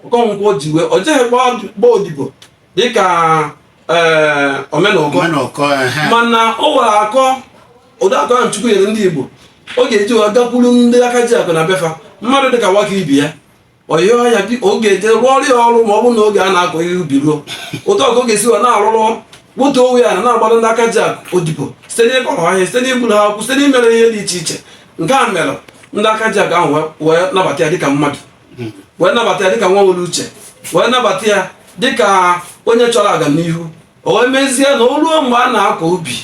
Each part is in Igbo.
Okonkwo ji wee o jeghịkwa gba odibo dịka ee Omenụkọ Omenụkọ, ehe. mana o nwere akọ ụdị akọ ahụ Chukwu nyere ndị Igbo ọ ga-eji wee gakwuru ndị aka ji akụ na be fa mmadụ dịka Nwakibie ọ yịọ ya bi ọ ga-eje rụọrọ ya ọrụ ma ọ bụrụ na oge a na-akọ ihe ubi ruo otu a ka ọ ga-esi wee na-arụrụ otu a wee na na-agbara ndị aka ji akụ odibo site n'ịkọrọ ha ihe site n'iburu ha akwụ site n'imere ihe dị iche iche nke a mere ndị aka ji akụ ahụ wee- wee nabata ya dịka mmadụ wee nabata ya dịka nwa nwere uche wee nabata ya dịka onye chọrọ agamnihu o wee mezie na o ruo mgbe a na-akọ ubi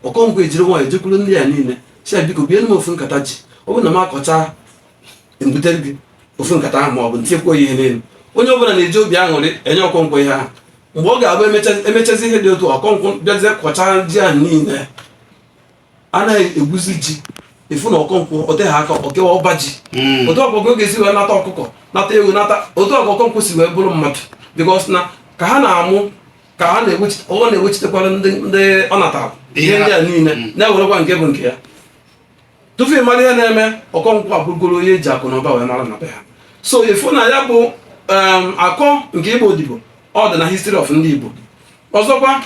Okonkwo ejiri nwayọ jekwuru ndị a niile sị ya biko biere m ofu nkata ji ọ bụrụ na m akọcha m butere gị ofu nkata ahụ ma ọ bụ m tinyekwa ihe n'elu onye ọbụla na-eji obi aṅụrị enye Okonkwo ihe ahụ mgbe ọ ga-abụ emechazi ihe dị otu a Okonkwo bịazie kọcha ji a niile a naghị ekwuzi ị je-afụ na Okonkwo ọ dịghị aka o kewa ọba ji hmm. otu a ka Okonkwo si wee nata ọkụkọ nata ewu nata otu a ka Okonkwo si wee bụrụ mmadụ because na ka ha na-amụ ka ha ọ na-ewechitekwara ndị ọ natara ihe ndị a niile hmm. na-ewerekwa nke bụ nke ya tupu ị mara ihe na-eme Okonkwo abụrụgoro onye e ji akụ na ụba wee mara na be ha so ị fụ na ya bụ um, akọ nke ịgba odibo ọ dị na history of ndị Igbo ọzọkwa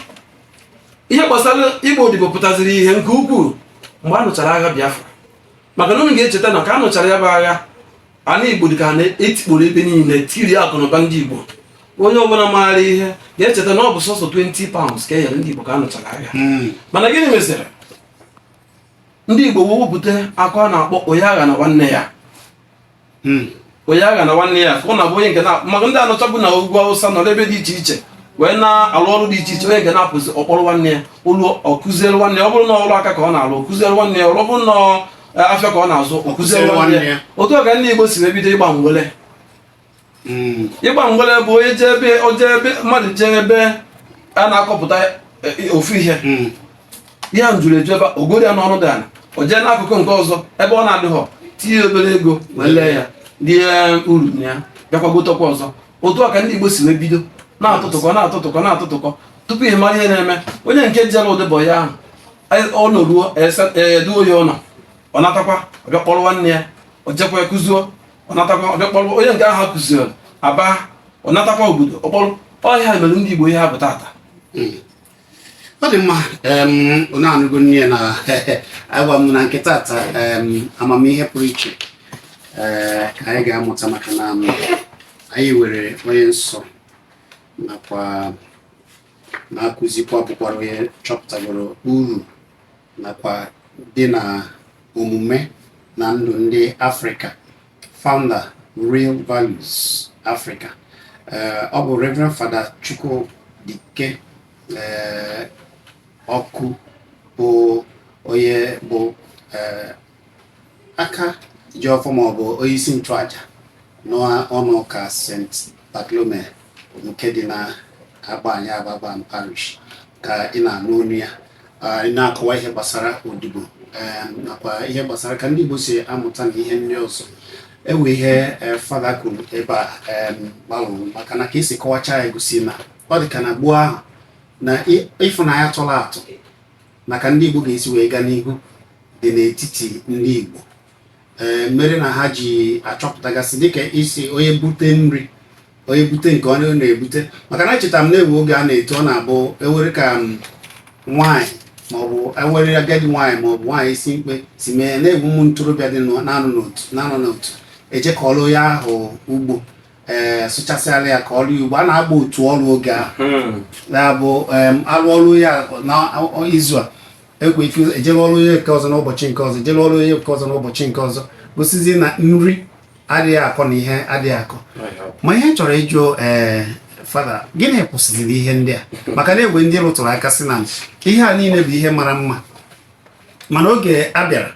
ihe gbasara ịgba odibo pụtaziri ihe nke ukwuu mgbe a nụchara agha Biafra maka na unu ga-echeta na ka a nụchara ya bụ agha ala Igbo dị ka na e tikporo ebe niile e tiri akụnụba ndị Igbo onye ọbụla maara ihe ga-echeta na ọ bụ sọsọ 20 pounds ka e nyere ndị Igbo ka a nụchara agha hmm. mana gịnị meziri ndị Igbo wee wepụta akọ a na-akpọ onye aghana nwanne ya hmm. onye aghana nwanne ya afụ na-abụ onye nke na maka ndị a nọchabu na ugwu Awụsa nọ n'ebe dị iche iche wee na-alụ ọrụ dị iche iche onye nke na-apụzi ọ kpọrọ nwanne ya ụlọ ọ kụziere nwanne ya ọ bụrụ na ọrụ aka ka ọ na-alụ ọ kụziere nwanne ya ọ bụrụ na e, afịa ka ọ na-azụ ọ kụziere nwanne ya otu a ka ndị Igbo si wee bido ịgba mgbele hmm. ịgba mgbere bụ onye jee ebe o jee ebe mmadụ jee ebe a na-akọpụta e, e, ofu ihe hmm. ya juru eju ebe o goro ya n'ọnụ dị ala o jee n'akụkụ nke ọzọ ebe ọ na-adịghọ tinye obere ego wee lee ya rie uru na ya bịakwa gotekwa ọzọ otu a ka ndị Igbo si wee bido na-atụtụkọ na-atụtụkọ na-atụtụkọ tupu ị mara ihe na-eme onye nke jere odibo ahụ ọ nọruo etu ọ ya-anọ ọ natakwa ọ bịa kpọrọ nwanne ya o jekwa kụzuo ọ natakwa ọ bịa kpọrọ onye nke ahụ kụziri aba ọ natakwa obodo ọ kpọrọ ọ ya mere ndị Igbo ihe ha bụ tata hmm. ọ dị mma onye anụgo nne na-agwa m na nke tata amamihe pụrụ iche eh, ka anyị ga-amụta maka na anyị nwere onye nsọ nakwa na-akụzikwa bụkwara onye chọpụtagoro uru nakwa dị na omume na ndụ ndị Afrịka founder Real Values Africa eh, ọ bụ Reverend Fada Chukwudike eh, Ọkụ bụ onye bụ eh, aka ji ọfọ ma ọ bụ onyeisi nchụaja n'ụnọ ụka St. Bartholomew nke dị na agba anyị agbagba parish ka ị na-anụ onu ya ị na-akọwa ihe gbasara odibo nakwa ihe gbasara ka ndị Igbo si amụta na ihe ndị ọzọ enwe ihe e, fada kwuru ebe a balụ uru maka na ka esi kọwacha ya gosi na ọ dị ka na gboo ahụ na ịfụnanya tọrọ atọ na ka ndị Igbo ga-esi wee gaa n'ihu dị n'etiti ndị Igbo ee mere na ha ji achọpụtagasị dịka isi onye bute nri onye bute nke onye ọ na-ebute maka na echeta m na enwe oge a na-eto ọ na-abụ ewere ka nwaanyị maọbụ ewere agadi nwaanyị maọbụ nwaanyị isi mkpe si mee na enwe ụmụ ntorobịa dị na-anọ n'otu na-anọ n'otu eje kọọlụ onye ahụ ugbo ee eh, sụchasịalụ ya ka ọrụ ugbo a na-agba otu ọrụ oge ahụ hmm. na-abụ arụ ọrụ ya n'izu a enwe ike ejere ọrụ onye nke ọzọ n'ụbọchị nke ọzọ ejere ọrụ onye nke ọzọ n'ụbọchị nke ọzọ gosizie na nri adịghị akọ na ihe adịghị akọ ma ihe chọrọ ịjụ ee eh, fada gịnị kwụsịziri ihe ndị a maka na enwe ndị rụtụrụ aka sị na ihe a niile bụ ihe mara mma mana oge a bịara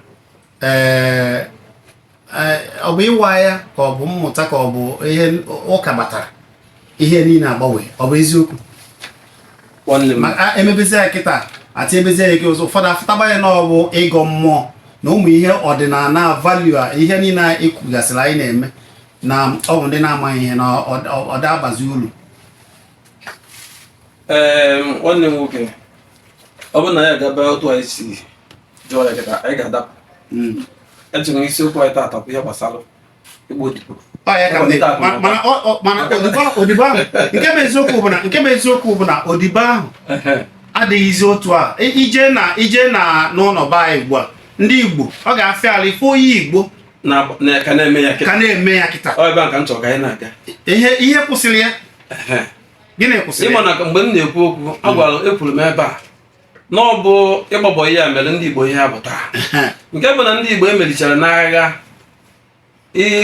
ọ bụ ịwa anya ka ọ bụ mmụta ka ọ bụ ihe ụka batara ihe niile agbanwe ọ bụ eziokwu emebezi ya kịta ati ebezi ya ike ụzọ ụfọdụ afụtaba ya na ọ bụ ịgọ mmụọ na ụmụ ihe ọdịnala value a ihe niile ekwugasịrị anyị na-eme na ọ bụ ndị na-amaghị ihe na ọ da-abazi ulu ee nwanne m nwoke ọ bụrụ na ya gaba otu anyị si jụọ ya kịta anyị ga-adapụ hmm. ejiri isiokwu anyị taata bụ ihe gbasara ịgba odibo mana odibo ahụ nke bụ eziokwu bụ na nke bụ eziokwu bụ na odibo ahụ adịghịzi otu a i jee na i jee na n'ụlọ be anyị ugbu a ndị Igbo ọ ga-afịa alụ ịfụ onye Igbo ka na-eme ya kịta ihe kwụsịrị ya gịnị kwụsịrị ị ma na mgbe m na-ekwu okwu a gwara ekwuru m ebe a na ọ bụ ịgba bọị a mere ndị Igbo ihe ha bụ taa nke bụ na ndị Igbo e merichara n'agha ihe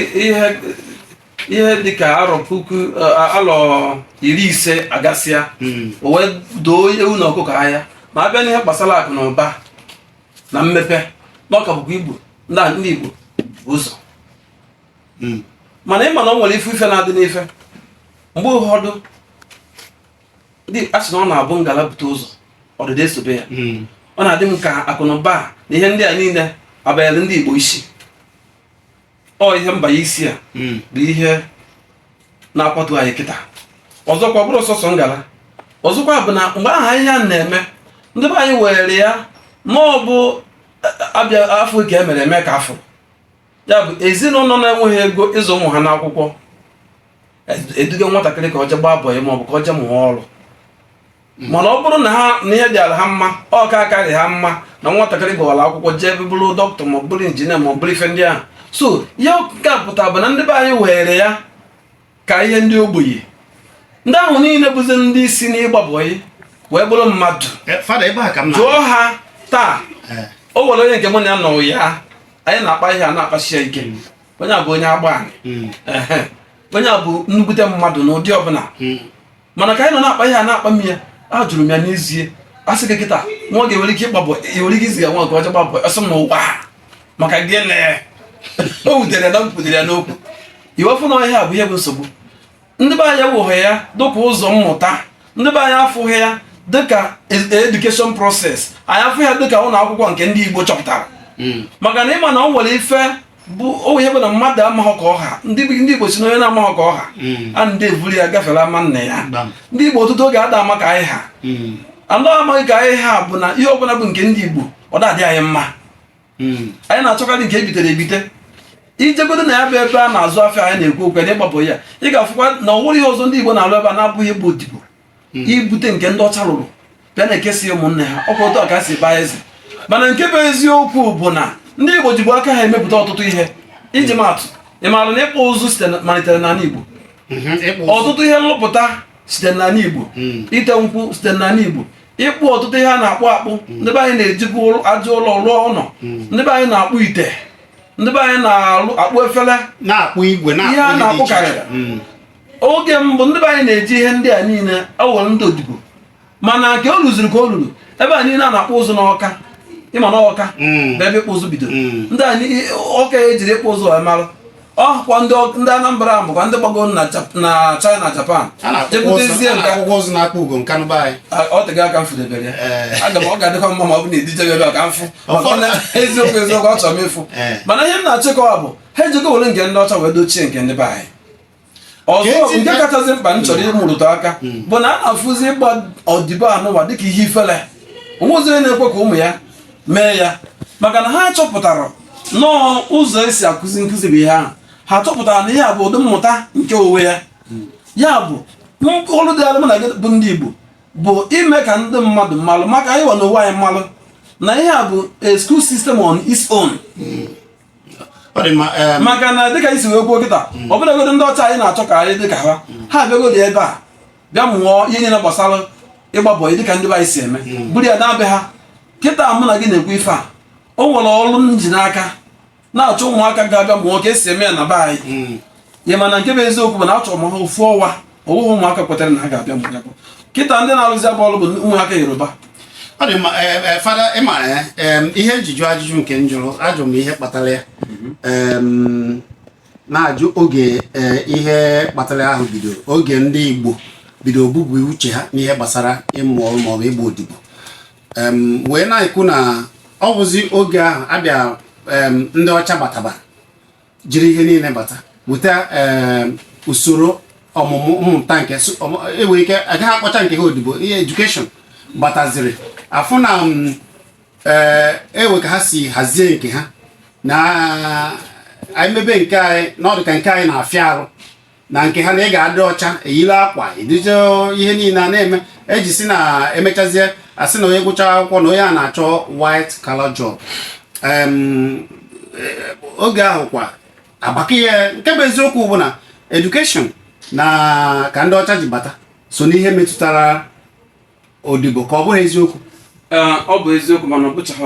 ihe dịka arọ puku alọ iri ise agasịa hmm. o wee doo ewu na ọkụkọ anya ma a bịa n'ihe gbasara akụ na ụba na mmepe na ọ ka bụkwa Igbo ndị Igbo ụzọ hmm. mana ị ma na o nwere ife ife na-adị n'ife mgbe ụfọdụ ndị a sị na ọ na-abụ ngala bute ụzọ ọdịda esobe ya hmm. ọ na-adị m ka akụnụba na ihe ndị a niile abanyere ndị Igbo isi ọ ihe mbanye isi a hmm. bụ ihe na-akwatu anyị kịta ọzọkwa bụrụ sọsọ ngala ọzọkwa bụ na mgbe ahụ ihe a na-eme ndị be anyị were ya na ọ bụ e, e, a fụ ka e mere e mee ka a fụrụ ya bụ ezinụlọ na-enweghị ego ịzụ ụmụ ha n'akwụkwọ eduga nwatakịrị ka o jee gbaa bọyị maọbụ ka o jee mụọ ọrụ hmm. mana ọ bụrụ na ha na ihe dịara ha mma ọ ka akarị ha mma na nwatakịrị gụwara akwụkwọ jebe bụrụ dọkịta maọbụ bụrụ injinia maọbụ bụrụ ife ndị ahụ so ihe ọ ga-apụta bụ na ndị be anyị weere ya ka ihe ndị ogbenye ndị ahụ niile bụzi ndị si n'ịgba bọyị wee bụrụ mmadụ eh, jụọ ha taa eh. o nwere onye nke mụ na ya nọ ya anyị na-akpa ihe a na-akpasi ya ike hmm. onye a bụ onye agba anyị hmm. onye a bụ nnukwute mmadụ n'ụdị ọbụla hmm. mana ka anyị nọ na-akpa ihe a na-akpa m ya ajụrụ m ya n'ezie a sị gị kịta nwa gị nwere ike ịgba bọyị i nwere ike izi ya nwa nke o jee gbaa bọyị ọ sị m ụwa maka gịnị o wutere na m kwutere ya n'okwu i wee fụ na ọ ihe a bụ ihe bụ nsogbu ndị be anyị eweghị ya dịka ụzọ mmụta ndị be anyị afụghị ya dịka education process anyị afụ ya dịka ụlọ akwụkwọ nke ndị Igbo chọpụtara hmm. maka na ị ma na o nwere ife bụ o ihe bụ na mmadụ amaghị ka ọ ha ndị Igbo sị na onye na-amaghị ka ọ ha hmm. a na-evuru ya gafere ama nna ya ndị Igbo ọtụtụ oge ada ama ka anyị ha hmm. anyị amaghị ka anyị ha bụ na ihe ọbụla bụ nke ndị Igbo ọ da-adị anyị mma hmm. anyị na-achọkarị nke e bitere ebite i jegodu na ya bụ ebe a na-azụ afịa anyị na-ekwu okwu ya na ịgba bọyị ị ga-afụkwa na o nweghị ihe ọzọ ndị Igbo na-alụ ebe a na-abụghị ịbụ odibo hmm. ibute nke ndị ọcha rụrụ bịa na-ekesi ụmụnne ha ọ kwa otu a ka ha si baa eze mana nke bụ eziokwu bụ na ndị Igbo jibu aka ha emepụta ọtụtụ ihe iji hmm. maa atụ ị maara na ịkpụ ụzụ site malitere n'ala Igbo hmm, ọtụtụ ihe nlụpụta site n'ala Igbo ite nkwụ site n'ala Igbo ịkpụ ọtụtụ ihe a na-akpụ akpụ ndị be anyị na-ejibu aja ụlọ rụọ ụlọ ndị be anyị na-akpụ ite ndị be anyị na-akpụ efere na-akpụ igwe ihe a na-akpụkarị oge mbụ ndị be anyị na-eji ihe ndị a niile ewere ndị odibo mana nke o luziri ka o luru ebe a niile a na-akpụ ụzụ n'Ọka ị ma na Ọka mm. bụ ebe ịkpụ ụzụ bido mm. ndị anyị Ọka e jiri ịkpụ ụzụ wee mara ọ kwa ndị Anambra ahụ bụkwa ndị gbago na China Japan je butezie o teego aka m fụdebere ya eh. aga m ọ ga-adịkwa mma ma ọ bụ na e duje gị ebe ka m fụ eziokwu eziokwu achọrọ m ịfụ eh. mana ihe m na-achọ ịkọwa bụ ha ejego were nke ndị ọcha wee dochie nke ndị be anyị ọzọ nke kachasị mkpa m chọrọ ịrụtụ aka hmm. bụ na a na-afụzi ịgba odibo anụwa dịka ihe ifele o nwezi onye na-ekwe ka ụmụ ya mee ya maka na ha chọpụtara na ọ ụzọ e si akụzi nkụzi bụ ihe ahụ ha chọpụtara na ihe a bụ ụdị mmụta nke onwe ya hmm. ya bụ ọrụ dịịlụ m na gị bụ ndị Igbo bụ ime ka ndị mmadụ malụ ma anyịwa n'onwe anyị malụ na ihe a bụ a school system on its own hmm. maka na dịka i si wee kwuo kịta mm. ọbụlagodu ndị ọcha anyị na-achọ ka anyị dịka ha mm. ha abịagodu ebe a bịa mụọ ihe niile gbasara ịgba bọyị dịka ndị anyị si eme mm. buru ya naa be ha kịta mụ na gị na-ekwu ife a o nwere ọrụ m ji n'aka na-achọ ụmụaka ga-abịa mụọ ka e si eme ya na be anyị ya mana nke bụ eziokwu bụ na achọrọ m ha ofu ọnwa o nweghị ụmụaka kwetara na ha ga-abịa mgbe bụ kịta ndị na-arụzi ya bụ ọrụ bụ ụmụaka yoruba ọ dị mma eh, eh, fada ị ma ya eh, ihe m ji jụ ajụjụ nke m jụrụ ajụ m ihe kpatara ya mhm. na-ajụ oge ihe kpatara ahụ bido oge ndị igbo bido ibupụ uche ha n'ihe gbasara ịmụ ọrụ maọbụ ịgba odibo wee na-ekwu na ọ bụzi oge ahụ abịa ndị ọcha bataba jiri ihe niile bata buta eh, usoro ọmụmụ mmụta nke e nwere ike agaghị akpọcha nke ha odibo ihe education bataziri a fụ na mm, eh, e nwe ka ha si hazie nke ha na anyị mebe nke anyị na ọ dụ ka nke anyị na-afịa arụ na nke ha na ị ga-adị ọcha e yiri akwa eduje ihe niile a na-eme e ji sị na e mechazie a sị na onye gụcha akwụkwọ na onye a na-achọ white collar job eh, oge ahụ kwa agbaka ihe nke bụ eziokwu bụ na education nke a ndị ọcha ji bata so n'ihe metụtara odibo ka ọ bụghị eziokwu eh, ọ bụ eziokwu mana ọ bụchaghị